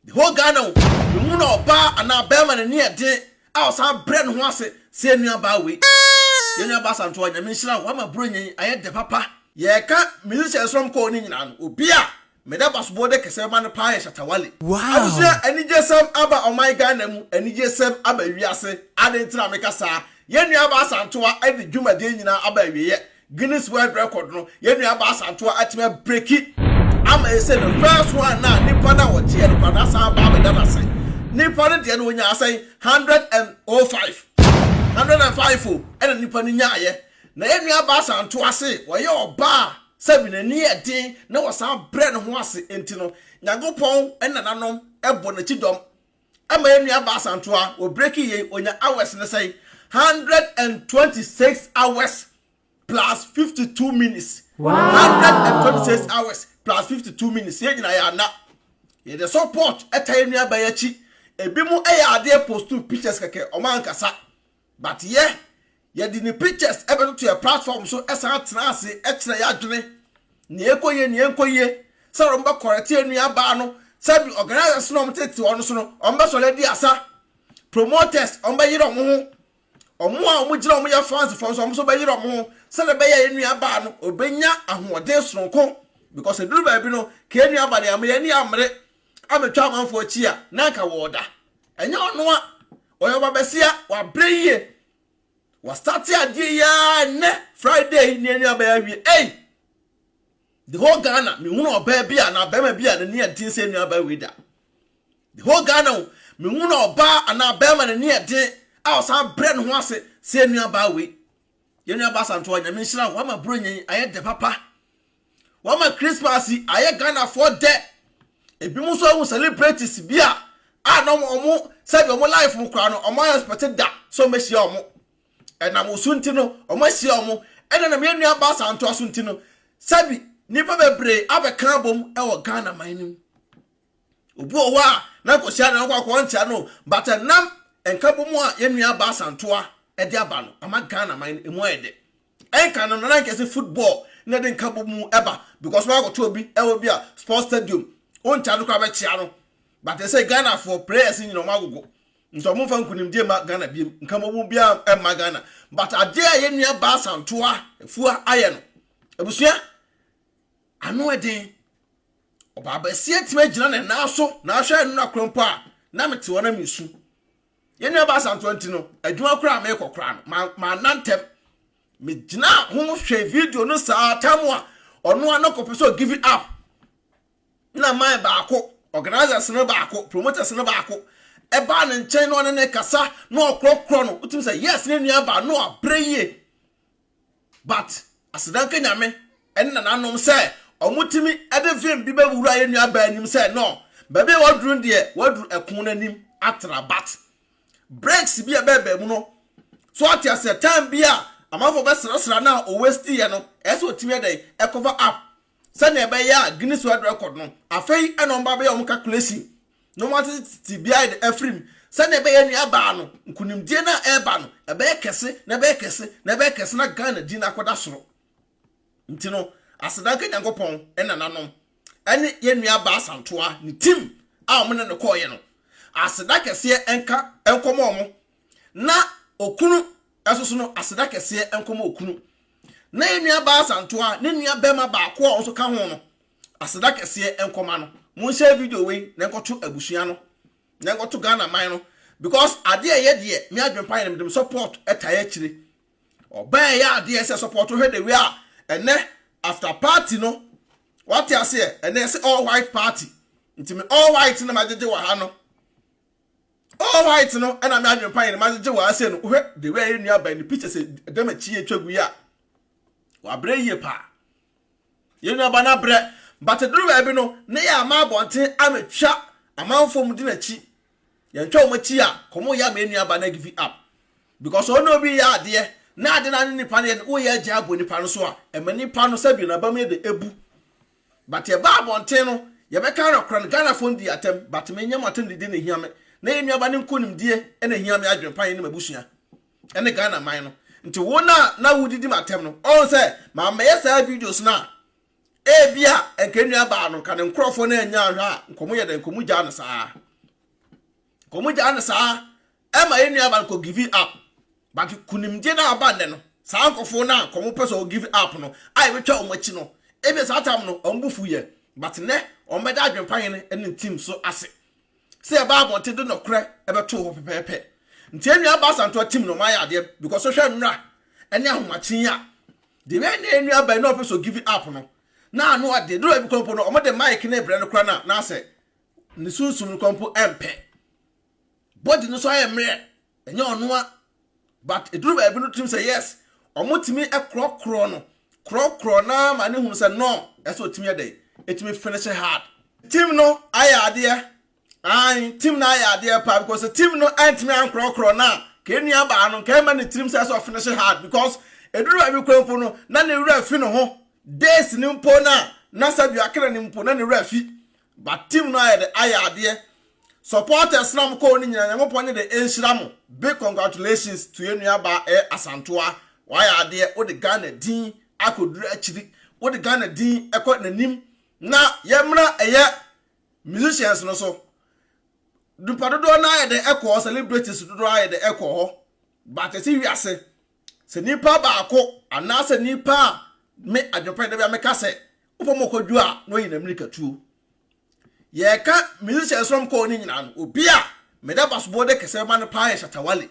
The whole Ghana o, mehu na ɔbaa anaa bɛɛma na ani yɛ den a ɔsan brɛ ne ho ase sɛ yɛ nua baa wei. Yɛ nua baa Asantewa Nyame nhyira wo wama Buronya yi ayɛ dɛ papa. Yɛka musicians nom kɔɔ ne nyinaa no obi a mede abasobɔ de kɛsɛ bɛma no paa yɛ Shatta Wale. Abusua anigye sɛm aba ɔman Ghana mu anigye sɛm aba wiase aden nti na meka saa yɛ nua baa Asantewa de dwumadie nyinaa aba awieɛ Guinness World Record no, yɛn nuabaa Asantewaa atumi abreki ama yɛn sɛ the first one na nipa no a wɔgyeɛ no koraa no asan aba abɛda no ase. Nipa no deɛ no ɔnyaa sɛn? Hundred and oh five. Hundred and five o, ɛna nipa no nyaeɛ. Na yɛn nuabaa Asantewaa se ɔyɛ ɔbaa a sɛbi n'ani yɛ den na ɔsan brɛ ne ho ase nti no, Nyankopɔn ne nananom bɔ n'akyi dɔm. Ɛma yɛn nua baa Asantewa, wɔ breaking yei, ɔnya hours no sɛn? Hundred and twenty six hours plus fifty two minutes. Hundred and twenty six hours plus fifty two minutes. Yɛn nyinaa yɛ ana. Yɛde support ɛta yɛn nua baa yɛn akyi. Ebi mo ɛyɛ adeɛ post pictures kɛkɛ, ɔmo ankasa. But yɛ yɛde ne pictures bɛtoto yɛ platform so san tena ase kyerɛ yɛ adwene nea ɛkɔ yie nea ɛnkɔ yie sɛ wɔbɛ correct yɛ nua baa no sɛbi organizers no wɔn tete wɔn so no wɔn bɛ sɔrɔ adi asa promoters wɔn bɛ yere wɔn ho wɔn a wɔn gyina wɔn yɛ fans fo nso wɔn nso bɛ yere wɔn ho sɛdeɛ bɛyɛ yɛ nua baa no ɔbɛnya ahoɔden soronko because eduru baabi no ka yɛ nua baa no yɛ ama yɛ ani amere ametwa amanfo akyi a na anka wɔɔda Ɛnyɛ ɔno a ɔyɛ ɔbabasia wabrɛ yie wasate adeɛ yi ara ɛnɛ friday yi nea nua bɛyɛ awie ei the whole ghana mehunu ɔbaa bi a na bɛrima bi a n'ani yɛ den sɛ nua bɛyɛ wei da the whole ghana o mehunu ɔbaa anaa bɛrima n'ani yɛ den a ɔsan brɛ ne ho ase sɛ nua baa wei yɛn nua baa santoa nyame nhyira wo ama buro nyɛn ayɛ dɛ papa Wɔma Christmas yi ayɛ Ghanafoɔ dɛ. Ebinom nso ahu celebrities bi a a na wɔn sɛdeɛ wɔn life mu koraa no, wɔn expect da sɛ wɔbɛhyia wɔn. Ɛnam wo so nti no, wɔahyia wɔn. Ɛna nam yɛn nua Baasa Antoa so nti no, sɛbi nnipa bebree abɛka abom wɔ Ghana man no mu. Obi wɔ hɔ a na nkɔhyia na ɔkɔ akɔ nkyia no, but ɛnam nkabom a yɛn nua Baasa Antoa de aba no, ama Ghana man no emu ayɛ dɛ. Ɛnka no na anka ɛsɛ football na ɛde nkabɔ mu ɛba because wɔn akɔtɔ obi ɛwɔ bi a sports stadium wɔn charge koraa bɛkyia no but ɛsɛ Ghana for players nyina wɔn agogo nti wɔn nfa nkunimdie ma Ghana biem nkabɔ mu biara ɛma Ghana but adeɛ a yɛn nua baa santoa fua ayɛ no abusua ano ɛden ɔbaa bɛsi atumi agyina ne nan so na ahwɛ ɛno na korɔ mpo a na mete hɔ na mesu. Yɛn nuabaa Asantewaa nti no, adwuma koraa a merekɔ koraa no, manna ntɛm. Megyinaa ho hwɛ video no saa tam a ɔno ara no kɔpɛ sɛ ɔgive up. Na man baako, organisers no baako, promoters no baako, ɛbaa ne nkyɛn na ɔne ne kasa na ɔkorɔkorɔ no. Wotumi sɛ, yes, ne nuabaa no abrɛ yie. But aseda nka Nyame ne nananom sɛ ɔmo tumi de vim bi bɛ wura yɛ nua baa anim sɛ no baabi a waduru no deɛ waduru ɛko no anim atra but breaks bi a ɛbɛ bɛ mu no so ate aseɛ time bi a amanfoɔ bɛ srasra no a owesti yɛ no ɛsɛ ɔtumi ɛdɛn ɛcover up sɛnea ɛbɛyɛ a Guinness World Record no, afei na wɔn ba bɛyɛ wɔn calculation na wɔn atete tibia de afiri mu sɛnea ɛbɛyɛ nea ɛbaa no, nkunimdie no a ɛreba no, ɛbɛyɛ kɛse na ɛbɛyɛ kɛse na ɛbɛyɛ kɛse na Ghana din akɔda soro. Nti no, aseda nka Nyankopɔn nananom ne yɛn nua Baa Santoa ne team a wɔn ne no kɔɔyɛ no. Aseda kɛseɛ nka nkɔmɔ wɔn na okunu ɛsoso no aseda kɛseɛ nkɔmɔ okunu. na yɛn nuabaa Asantewa a ne nua barima baako a ɔnso ka ho no aseda kɛseɛ nkɔma no monhyɛ video wei na nkɔto abusua no na nkɔto Ghana man no because adeɛ a ɛyɛ deɛ me adwempa yɛ no mede me support ɛtae akyire ɔbaa ɛyɛ adeɛ sɛ support hwɛ the way a ɛnɛ after party no wate aseɛ ɛnɛ yɛsɛ all white party nti me all white na magyegye wɔ ha no All white no na me adwen pa yɛ no ma gyegye wɔ ase no wo hwɛ the way a yɛ nua bɛn ne pictures dɛm akyi yɛ twa gu yi a wɔ abrɛ yie paa yɛ nua ba no abrɛ but duru baabi no ne yɛ ama abɔnten ama twa amanfoɔ mu di n'akyi yɛn twa wɔn akyi a kɔmɔ yɛ ama yɛ nua ba no give up because ɔne obi yɛ adeɛ na ade na ne nipa no yɛ no wo yɛ agya abɔ nipa no so a ɛma nipa no sɛbi na bam yɛ de ebu But yɛba abɔnten no yɛbɛka nɔkorɛ no Ghana foɔ no di atɛm but me nyɛ mo atɛm didie na ɛhia me na yɛn nuaba no nkonimdie na ɛhia me adwen pa yɛne m'abusua ɛne Ghana man no nti wo no a na wo didi m'atɛm no ɔhu sɛ mammɛyɛ saa videos no a ɛbi a nka nuabaa no nka ne nkorɔfoɔ no annya anhwɛ a nka ɔmo yɛ dɛn nka ɔmo gyaa no saa. Wɔn gyaa no saa ɛma yɛn nua baa kɔ give up but kunimdie no a aba nnɛ no saa nkɔfoɔ no a wɔn pɛ sɛ wɔn give up no a yɛbɛtwa wɔn akyi no ebi saa tam no wɔn bu fu yɛ but nnɛ wɔn bɛda adwempa hene ne ne team so ase sɛ yɛbaa abɔnten de nɔkorɛ ɛbɛtoo hɔ pɛpɛɛpɛ nti yɛn nua baa santoa team no wɔn ayɛ adeɛ because wohwɛ nnora ɛne ahomakyen a deɛ wei ne yɛn nua baa yi na ɔpɛ sɛ give up no na ano ɔde dora bi kɔmpo no wɔn de mic ne brɛ no kora na na asɛ ne sunsum no kɔ mpo ɛmpɛ body no so ayɛ mmerɛ ɛnyɛ ɔnoa but ɛduru baabi no tumi sɛ yes ɔmo tumi ɛkorɔkorɔ no korɔkorɔ naa ma ne hunu sɛ no ɛsɛ ɔtumi ɛdɛ ɛtumi finish hard tim no ayɛ adeɛ ae tim no ayɛ adeɛ paa because sɛ tim no ɛntumi ankorɔkorɔ no a ka ɛnua baa no nka ɛma ne tirim sɛ ɛsɛ ɔfinish hard because ɛduru baabi kura mpo no na ne werɛ fi ne ho days ne mpo no a na sɛ dua kena ne mpo na ne werɛ fi But team no ayɛ de ayɛ adeɛ. Supporters no a mo kɔɔ no nyinaa Nyankopɔn nye de nhyira mo. Big congratulations to yɛn nua baa ɛyɛ Asantewaa. Wayɛ adeɛ, wode Ghana din akɔduru akyiri, wode Ghana din kɔ n'anim. Na yɛmmra ɛyɛ musicians no so. Nipa dodoɔ no ara yɛ de kɔɔ, celebrities dodoɔ ara yɛ de kɔɔ hɔ. But yɛte wiase Sɛ nipa baako anaasɛ nipa a me adwepɛ da bi a meka sɛ wopɛ mu kɔdwo a na ɔyi n'amirikatuo. Yɛka musicians nom kɔɔ ne nyinaa no, obi a meda basobɔ de kɛsɛ bɛma no paa yɛ Shatta Wale.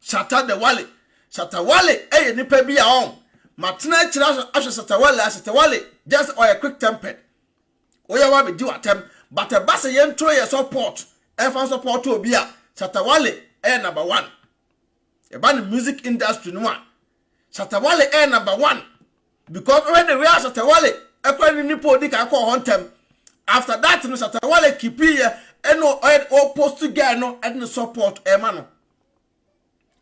Shatta the Wale. Shatta Wale yɛ nipa bi a ɔn matena akyire ahwɛ Shatta Wale a Shatta Wale just ɔyɛ quick tempered. Woyɛ wa bɛdi w'atɛm but ɛba sɛ yɛnto yɛ support ɛmfa support obi a Shatta Wale yɛ number one. Ɛba ne music industry no a, Shatta Wale yɛ number one because wohwɛ the way a Shatta Wale ɛkora ne nipa odi kan kɔɔ hɔ ntɛm. After that no Shatta Wale kipi yɛ ɛna ɔyɛ ɔ post guy no ɛde ne support ɛma no.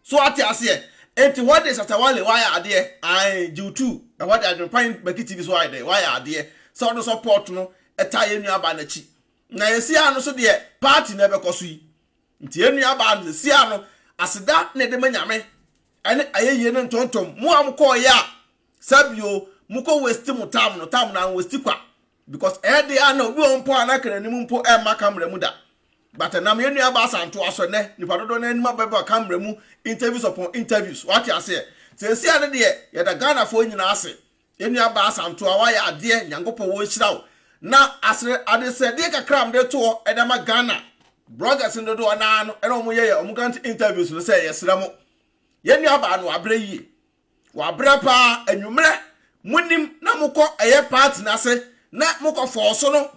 So ate aseɛ. Enti hɔ deɛ Shatta Wale wayɛ adeɛ. Ae, Jiw Two ɛhɔ deɛ Adwenpan Baki TV so ayɛ dɛ wayɛ adeɛ sɛ ɔde support no ɛtaa yɛn nua baa n'akyi. Na yɛsi ano so deɛ party na ɛbɛkɔ so yi. Nti yɛn nuabaa no, seesei ara no, aseda na yɛde ma Nyame, ɛne ayɛyie ne ntontom. Mo a mokɔeɛ a, sɛ bio, mokɔ waste mo time no, time no anwaste kwa. Because ɛyɛ deɛ a na obi wɔ hɔ mpo a na anka n'anim mpo ɛmma camera mu da. But ɛnam yɛn nuabaa Asantoa so, ɛnɛ, nnipa dodoɔ no ara anim abɛba camera mu, interviews upon interviews, wate aseɛ. Seesei ara no deɛ, yɛda Ghanafoɔ nyinaa ase. Yɛn nua baa Asantua wayɛ adeɛ Nyankopɔn wɔ nhyira wo na asere adesɛdeɛ kakra a mede to hɔ ɛde ama Ghana bloggers no dodoɔ naa no ɛna wɔn yɛ yɛ wɔn grant interviews no sɛ yɛsrɛ mo yɛn nua baa no wabrɛ yie wabrɛ paa anwummerɛ mo nim na mo kɔ ɛyɛ party n'ase na mo kɔ fɔɔ so no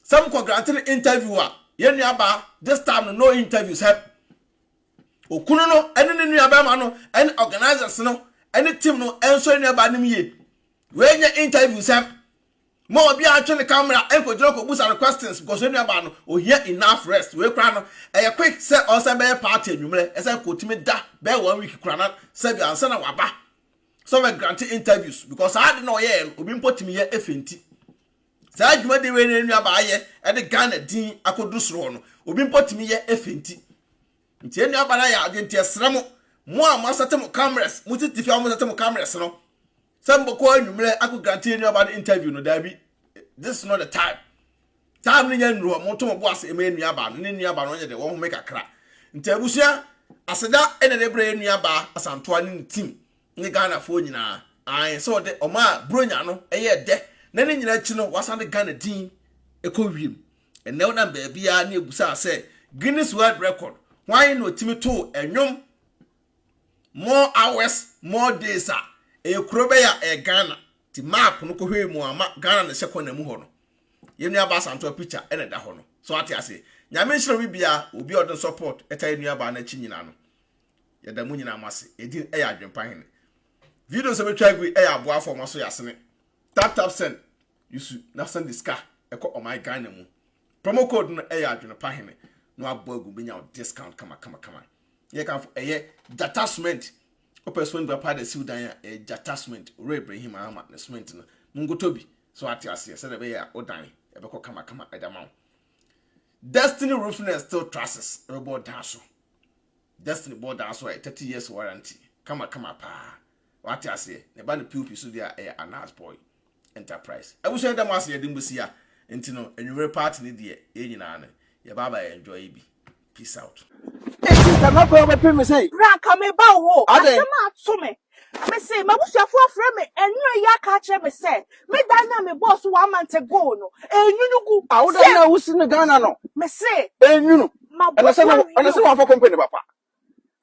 sɛ mo kɔ grant no interview a yɛn nua baa this time no no interviews help Okunu no ne ne nuabarima no ne organisers no ne team no nsɔ ne nuabaa no mu yie. Wei nyɛ interview nsɛm. Mo a obiara ntwe ne camera nkɔgyina kɔbusa no questions because ne nuabaa no ohia enough rest. Wei koraa no ɛyɛ quick sɛ ɔsɛ bɛyɛ party anwummerɛ ɛsɛ kɔtumi da bɛyɛ one week koraa na sɛbi ansa na waba sɛ ɔbɛ grante interviews because saa ade na ɔyɛɛ no obi mpo tumi yɛ efe nti. Saa dwumadi wei na yɛn nuabaa ayɛ de Ghana din akɔduru soro hɔ no, obi mpo tumi yɛ efe nti. Nti yɛn nuabaa no ayɛ adeɛ nti ɛsrɛ mo, mo a moasɛte mo cameras, mo tete fie a wɔsɛte mo cameras no, sɛ mobɛkɔ anwummerɛ akɔ grante yɛn nuabaa no interview no, daabi, this is not the time. Time no nyɛ nnuru hɔ, moto mo bo ase ɛma yɛn nuabaa no, ne nuabaa no ɔnyɛ de wɔn home kakra. Nti abusua, aseda ɛna de brɛ yɛn nuabaa Asantoa ne ne team. ne Ghanafoɔ nyinaa ae sɛ ɔde ɔmaa Buronya no yɛɛ dɛ na ne nyinaa akyi no wasan de Ghana din kɔ wiem. Ɛnnɛ wonam baabiara ne ɛbusaa sɛ Guinness World Record hwan na ɔtumi too ɛnwom more hours more days a ɛyɛ kuro bɛyɛ a ɛyɛ Ghana nti map no kɔhwɛɛ mu ama Ghana no hyɛ kɔna mu hɔ no yɛn nua baa Santoa picture ɛna ɛda hɔ no so ate aseɛ nyame nhyerɛ obi biara obi a ɔde support ɛta yɛn nua baa no akyi nyinaa no yɛda mu nyinaa mo ase edin ɛyɛ adwempa hene video sɛ bɛtwa agu ɛyɛ aboafo ɔmo aso yɛ asene tap tap send yusu na send de sika ɛkɔ ɔman ghana mu promo code no ɛyɛ adwempa hene na wabɔ agu bɛnya discount kama kama kama yɛ kanfo ɛyɛ jata cement wopɛ cement gba paa de siw dan a ɛyɛ jata cement owura ibrahim ahama ne cement no mo nkotɔ bi so ate aseɛ sɛdeɛ ɛbɛyɛ a wo dan ɛbɛkɔ kama kama ɛde ama wo destiny roofing and steel trusses ɛbɛbɔ dan so Destiny bɔ daa so a ɛyɛ thirty years warranty kama kama paa wate aseɛ na ɛba no POP so deɛ a ɛyɛ Anas boy enterprise abusua yɛda mo ase yɛde mo si a nti no anwummere party ne deɛ yɛn nyinaa no yɛba aba yɛ enjoy bi peace out. Eti sɛ mɛkɔ wobɛpem me sɛn? Bra ka meba wo hɔ. Adɛn? Asɛm ato me. Mese m'abusuafoɔ afrɛ me nnora yi aka akyerɛ me sɛ me dan no a mebɔɔ so one month ago no ɛnwunu gu awoda sɛ no a wosi no Ghana no mese ɛnwunu ɛna sɛ mabɔfoɔ no ɛna sɛ wɔamfa company papa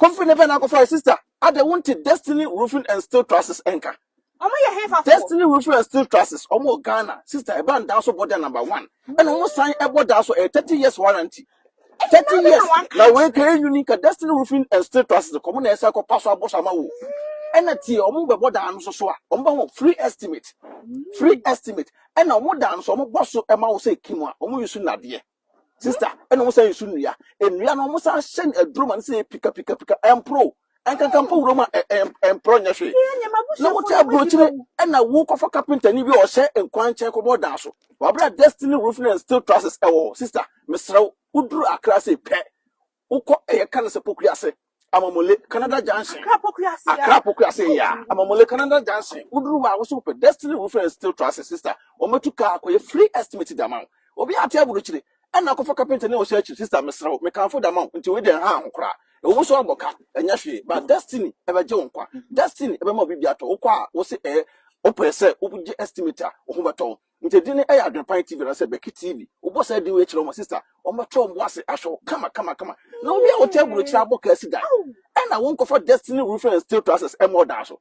company bɛn na akɔfa sister adɛ wonte Destiny Roofing and Steel Trusses nka ɔmo yɛ hefafoɔ Destiny Roofing and Steel Trusses ɔmo wɔ Ghana sister ɛba ndaa so bɔ dan number one ɛna ɔmo san ɛbɔ daa so ɛyɛ thirty years warranty Thirty years na wei ka enyu ni ka destiny roofing and steel trusses kɔ mo na ɛsɛ kɔ paso abɔ so ama wo ɛna tie wɔn bɛbɔ dan no so so a wɔn bɛ ho free estimate free estimate ɛna wɔn dan no so wɔn bɔ so ɛma wo sɛ kim a wɔn nsu nadeɛ sista ɛna wɔn san nsu nnua nnua no wɔn san hyɛ no aduro ma no sɛ pika pika pika ɛmpro ɛnkanka mpo wuram a ɛmporɔ nyɛ hwee na wote aburokyire ɛna wokɔfa kapentani bi a ɔhyɛ nkwan nkyɛn kɔbɔ ɔdan so wabra destiny roofing and steel trusses ɛwɔ hɔ sista mesrɛ wo woduru akra se pɛ wokɔ ɛyɛ ka no sɛ pokua ase amamole canada junction akra pokua ase yɛ a amamole canada junction woduru hɔ a woso wopɛ destiny roofing and steel trusses sista wɔmɛtu kaa kɔyɛ free estimate dama wo obi ate aburokyire Ɛnna akɔfa kapenta ne ɔhyɛ akyiri. Sister, mesrɛ wo, mekamfo da ma wo, nti wei deɛ nhaw ho koraa. Ɛwɔ mu sɛ woabɔ ka, ɛnyɛ hwee, but Destiny bɛgye wo nkwa. Destiny bɛma wo biribi atɔ. Wokɔ a, wose ɛɛ, wopɛ sɛ wogye estimate a, wo ho bɛtɔ wo. Nti edin no yɛ Adwenpan TV anaasɛ Becky TV. Wobɔ saa din wei kyerɛ wɔn a, sister, wɔbɛto wɔn bo ase ahwɛ wo kamakamakama. Na wowie a, wote aburokyire abɔ ka asi dan. Ɛnna wonkɔfa Destiny Roofing and Steel Trusses mmɔ ɔdan so.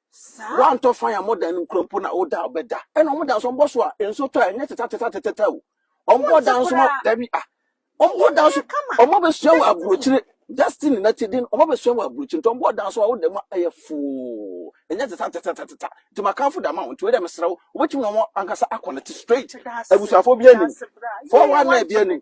Saa. Wantɔ fan a modan no kura mpo na woda bɛda. Ɛna wɔn da nso wɔbɔ so a nso tɔ a ɛnyɛ teta teta teta teta o. Wɔn bɔ da nso ma dabi a. Wɔn bɔ da nso wɔn abɛsua wɔ aburokyire destiny na ti din wɔn abɛsua wɔ aburokyire nti wɔn bɔ da nso a woda mu a ɛyɛ foo ɛnyɛ teta teta teta teta nti ma kanfo da ma wɔn nti wei dɛ mesrɛ wo wobɛtumi na wɔn ankasa akɔ ne te straight abusuafo bi anim fɔwa na ebi anim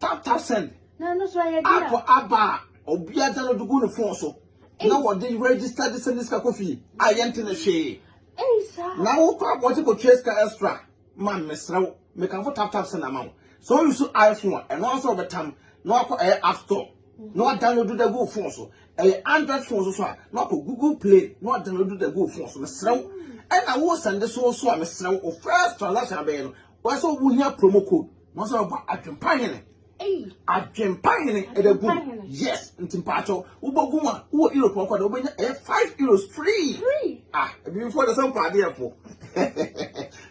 Tap-tap send. Na no so ayɛ bi a. App aba a obi agya no de gu ne phone so. Na wɔde register de send sika kɔ fie a yɛnte no hwee. Ei saa. Na wokɔ abɔnten kɔtua sika extra man mesrɛ wo mekamfo tap-tap send ama wo. Sɛ wo use iPhone a ɛno ankasa wobɛtam na wakɔ ɛyɛ app store na wadownload de agu wo phone so. Ɛyɛ Android phone so so a na wakɔ Google Play na wadownload de agu wo phone so mesrɛ wo. Ɛna wo send so so a mesrɛ wo wo first transaction abɛyɛ no wɔyɛ sɛ wohia promo code na wɔsɛ wɔbɔ adwempa hene adwempa hene ɛdɛ gu yes nti mpaakyɛw wobɔ gu mu a wowɔ europe ɔkɔ de wobɛnya ɛyɛ five euros free ah ebibifoɔ de sɛ mpaadeɛfoɔ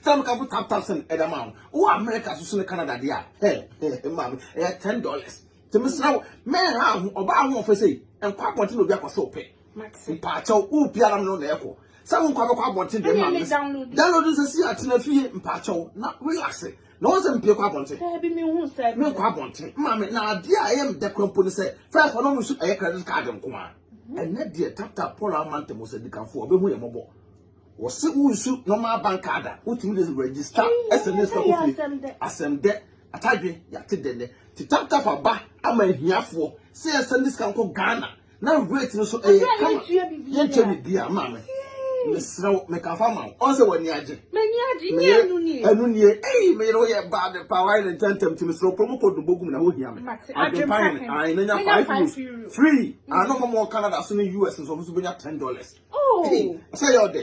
sɛ mekafo tap tap sɛn ɛdɛ ma wo wowɔ america so so ne canada deɛ a ɛ ɛ maame ɛyɛ ten dollars nti mesrɛ wo mɛnha ho ɔbaa ho ɔfɛ sɛ nkɔ abɔnten na obi akɔ sɛ wopɛ Mate. Mpaakyɛw, wo pia na mene na ɛkɔ. Sɛ wo nkwa bɛkɔ abɔnten deɛ ma mene. Download nsɛ si atena fie mpaakyɛw na relax. Na wɔn sɛ mpie kɔ abɔnten. Daabi me hu sɛ. Me nkɔ abɔnten. Maame na adeɛ a ɛyɛ mdɛ kora mpo ne sɛ first wɔn nso ɛyɛ credit card nko a. Mhm. Ɛnɛ deɛ tap tap Paul ama ntɛm sɛ dikanfoɔ ɔbɛhu yɛ mɔbɔ. Wɔse wo nsu normal bank card a wotumi de register SMS kɔ fie. Asɛm dɛ. Atadwe yɛate dɛ nɛ. Ti tap tap aba ama ahiafoɔ sɛ yɛsɛ ne sika nkɔ Ghana. na weight no so ɛyɛ kama yɛnkyɛ me bia ma me mesrɛ wo meka fa ma wo ɔn sɛ w'ani agye ɛno nie ei meyere wo yɛ baa de pa wae ne ntɛntɛm nti mesrɛ wo kuro mu kɔ dobogu mu na hohia me adwempa hene ae na nya 5 euros free ano mɔmɔ wɔ canada so ne us nso ɔmo so bɛnya 10 dollars oh. sɛ yɛ ɔdɛ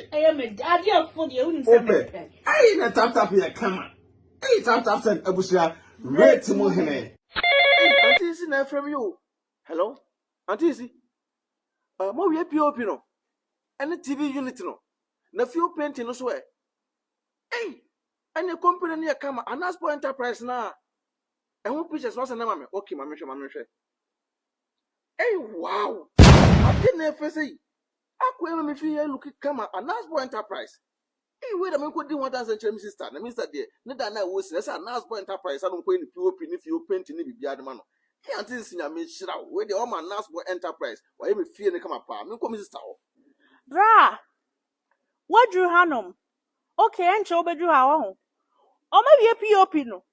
wopɛ ei na taptap yɛ kama ei taptap sɛn abusua weight mu hene ɛnti nsi na ɛfrɛ me o Hello auntie esi uh, mo wie pop no ɛne tv unit no na fuel painting no so ɛ ɛy ɛne company no yɛ kama anasport enterprise na ɛho pictures no asɛ na ma me okay ma mehwɛ ma mehwɛ ɛy wow ade na ɛfɛ sɛ yi akɔ ɛma me fi yɛ look kama anasport enterprise Ei wei na menkɔdi ho adanseɛ nkyerɛ me sista, na me sista deɛ ne da no a ɛwɔ si no ɛsɛ a Nurse Boy Enterprise a na ɔmkɔyɛ ne POP ne fie hɔ painting ne biribiara de ma no. Ei Auntie Nsi Nyame nhyira wo, wei deɛ woama Nurse Boy Enterprise wayɛ me fie no kama paa, menkɔ me sista hɔ. Braa! Woaduru hanom? Ok, ɛnkyɛ wobɛduru ha, wahu. Wɔawie POP no?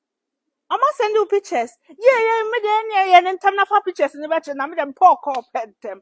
Wɔasɛnde wo pictures? Yei yei, me deɛ ɛnneɛ yɛ no ntɛm na fa pictures no bɛkyɛ na me deɛ mepɛ ɔkɔɔ pɛ ntɛm.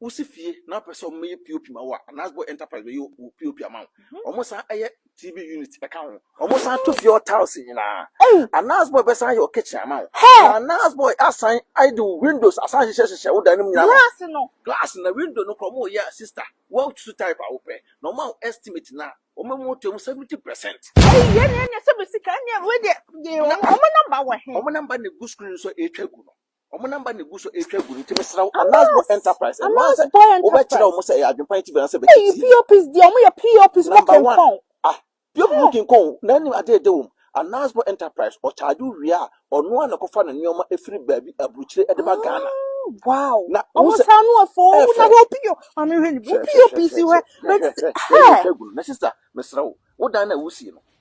Wosi fie na wopɛ sɛ wɔyɛ POP ma wo a, anaasɛ bɔ enterprise bɛyɛ wo POP ama wo. Mhm. Wɔsan yɛ TV unit ka ho. Wɔsan to fie hɔ tiles nyinaa. Anaasɛ bɔ bɛsan yɛ wo kitchen ama wo. Anaasɛ bɔ asan de wo windows asan hyehyɛ hyehyɛ wo dan no mu nyinaa. Glass no. Glass na window no kora wɔyɛ a sister. Wɔatutu type a wopɛ. Na wɔn a estimate na wɔn mu to mu 70%. Ɛyi yɛ ne ɛnyɛ sɛ bɛ sika ne ɛwɔ deɛ. Wɔn namba wɔ he? Wɔn namba na egu screen so a ɛretwa gu no. Wɔn namba na egu so retwa gu no nti mesrɛ wo Anas Boy Enterprise ɛno ara sɛ wobɛkyerɛ wɔn sɛ ɛyɛ adwempa nti bɛn sɛ bɛkyɛ tii. Eyi POPs deɛ wɔn yɛ POPs mo kenkɔn. Ah POP mo kenkɔn na anim adeɛ de wɔn. Anas Boy Enterprise ɔcharge wo wie a ɔno ara na ɛkɔfa ne nneɛma efiri baabi aburukyire ɛde ba Ghana. Wow. Na wɔn sɛ saa no afɔ wɔn na hwɛ POP maame hwɛ ni POPs hwɛ. Hwɛ hwɛ hwɛ yɛ retwa gu no na sister mesrɛ wo wo dan na wusie no.